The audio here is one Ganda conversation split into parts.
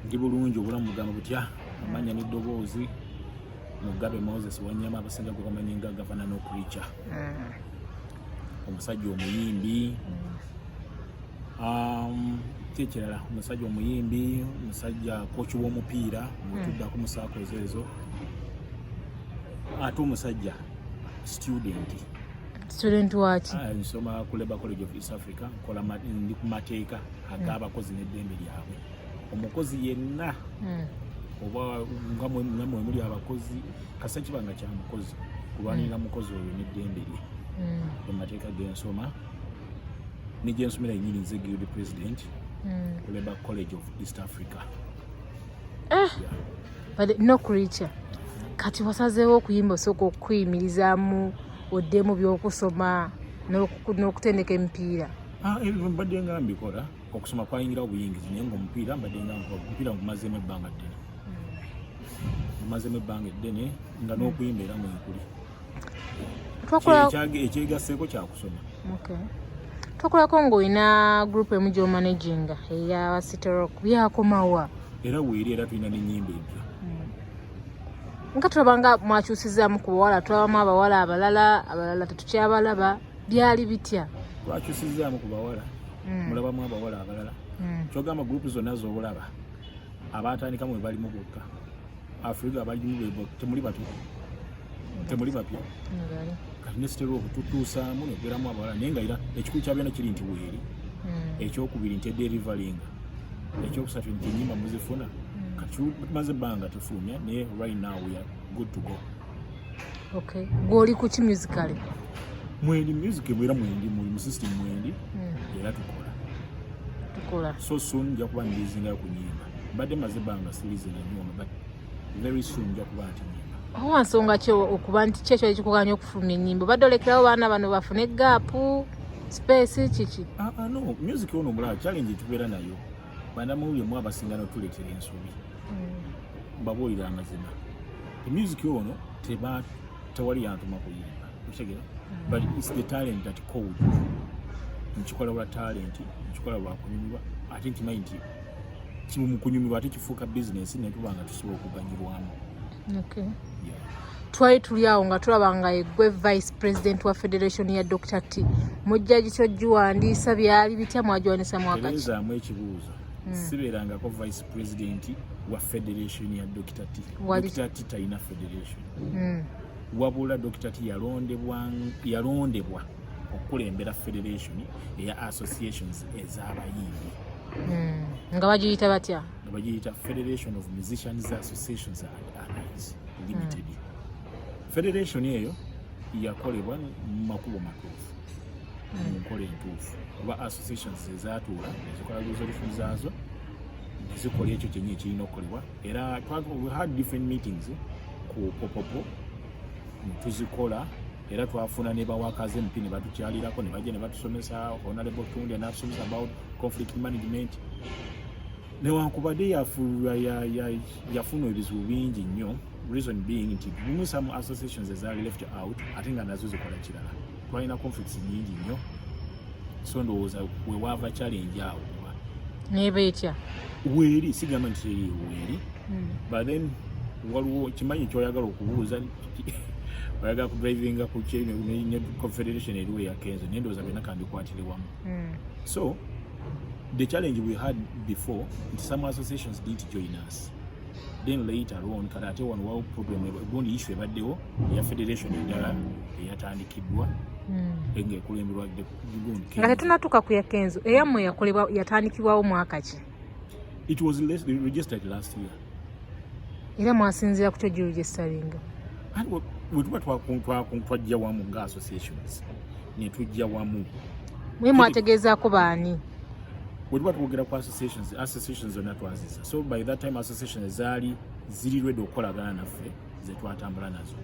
ndi bulungi obulamu bugamba butya amanya n'eddoboozi mugabe moses wanyama abasinga gwe bamanyi nga gavana n'okurica mm. omusajja omuyimbi mm. um, kyekirala omusajja omuyimbi omusajja koki w'omupiira mutuddako mm. musaako ezo ezo ate omusajja student student waki ah, nsoma ku labour college of east africa ndi ku mateeka ag'abakozi n'eddembe lyabwe omukozi yenna hmm. oba nga namwe muli abakozi kasa kiba nga kya mukozi kulwanirira hmm. mukozi oyo n'eddembe lye hmm. emateeka gensoma negyensomera yenyini nze guild president ku labour college of east africa ah! no creature kati wasazeewo okuyimba osooka okukuyimirizaamu oddemu byokusoma n'okutendeka emipiira ah, ebyo mbadde nga mbikola okusoma kwayingirawo buyingizi naye ngaomupiira mbadde nga omupiira ngumazeemu ebbanga ddene ngumazeemu ebbanga eddene nga n'okuyimba era mwenkuli ekyegasseeko kyakusoma tokulako ngaolina group emu gyomanaginga eya cityrock byakomawa era weeri era tulina nenyimba empya hmm. nga tulaba nga mwakyusizaamu ku bawala tulabamu abawala abalala abalala tetukyabalaba byali bitya twakyusizaamu ku bawala mm. mulabamu abawala abalala mm. kyogamba gurupu zonna zoolaba abaatandika mwe balimu bokka afrika abalimu bebo temuli batu temuli bapya kati nesitera okututuusaamu nekubeeramu abawala naye nga era ekikulu kyabyona kiri nti weeri mm. ekyokubiri nti ederivalinga ekyokusatu nti enyimba muzifuna mm. kati maze ebbanga tufulumya naye right now we are good to go okay gwoli ku ki musically mwendi music mwera mwendi muli mu system mwendi hmm. era tukola tukola so soon nja kuba ndizinga ku nyimba mbadde maze banga silize na nyoma but very soon nja kuba ati nyimba owa nsonga ki okuba nti kyekyo ekikuganya okufulumya ennyimba badde olekerawo baana bano bafune gaapu space kiki ah, ah, no music ono mulaba challenge etubeera nayo banamawulire mu abasinga notuleetera ensobi mm. mbabuulira amazima emyuziki ono tewali yantuma kuyimba okitegera mm. but its the talent that called nkikola lwa talenti nkikola lwa kunyumirwa ate nkimanyi nti kimu mu kunyumirwa ate kifuuka bizinensi netuba nga tusobola okuganyirwamu twali tuli awo nga tulaba nga egwe vice president wa federation ya dr t mujjaji kyo giwandiisa byali bitya mwagiwandiisa mwakakizamu ekibuuzo hmm. sibeerangako vice president wa federation ya dr t dr t talina federation hmm. wabula dr t yalondebwa okukulembera federation eya associations ez'abayimbi hmm. nga bagiyita batya nga bagiyita federation of musicians associations and allies limited mm. federation eyo yakolebwa mu makubo matuufu mu hmm. nkola entuufu oba associations ezatuula ezikola resolution zaazo nezikola ekyo kyenyi ekirina okukolebwa era we had different meetings ku popopo netuzikola era twafuna ne bawakazi MP ne batukyalirako ne bajja ne batusomesa Honorable Tunde n'atusomesa about conflict management newankubadde yafulula yafuna ebizibu bingi nnyo reason being nti gumu some associations ezaali left out ate nga nazo zikola kirala twalina conflicts nyingi nnyo so ndowooza wewaava challenge awo neba etya weeri sigamba nti weeri hmm. but then waliwo kimanyi kyoyagala okubuuza oyagala ku drivinga ku kye ne confederation eriwo ya kenzo naye ndowooza byonna kambikwatire wamu hmm. so the challenge we had before nti some associations didn't join us then later on kati ate wano wawo problem gundi issue ebaddewo eya federation endala eyatandikiddwa hmm. ngaekulemberwa nga tetunatuuka ku ya kenzo eyammwe yakolebwa yatandikibwawo mwaka ki it was registered last year era mwasinziira kutya ejjulu gye salinga wetuba twajja wamu nga associations netujja wamu mwe mwategeezaako baani wetuba twogera ku associations associations zonna twaziza so by that time associations zaali ziri redi okukolagana naffe ze twatambula nazo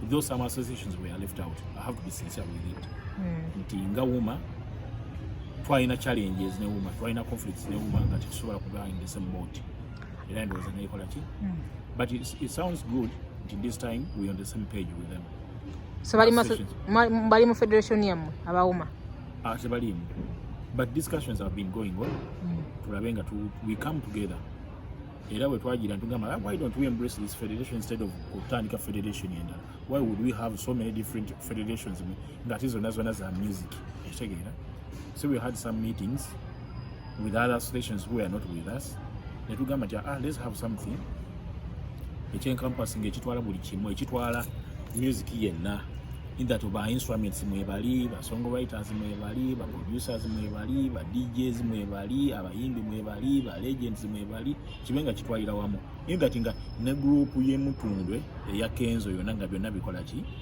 though some associations were left out i have to be sincere with it hmm. nti nga wuma twalina challenges ne wuma twalina conflicts ne wuma nga tetusobola kugaa in the same boat era ndowooza nekola ki hmm. but it sounds good nti this time we on the same page with them so bali mu federation yamwe abawuma ah, tebalimu but discussions have been going on hmm. tulabe nga we come together era bwe twagira ntugamba ah, why don't we embrace this federation instead of kutandika federation endala why would we have so many different federations ngate zonna zonna za music ekitegeera so we had some meetings with other stations who are not with us netugamba nti ah, let's have something ekyenkampasi nga ekitwala buli kimu ekitwala music yenna in that ba instruments mwebali ba song writers mwebali ba producers mwebali ba DJs mwebali abayimbi mwebali ba legends mwebali kibenga kitwalira wamu in that nga ne group ye mutundwe eya Kenzo yona nga byonna bikola ki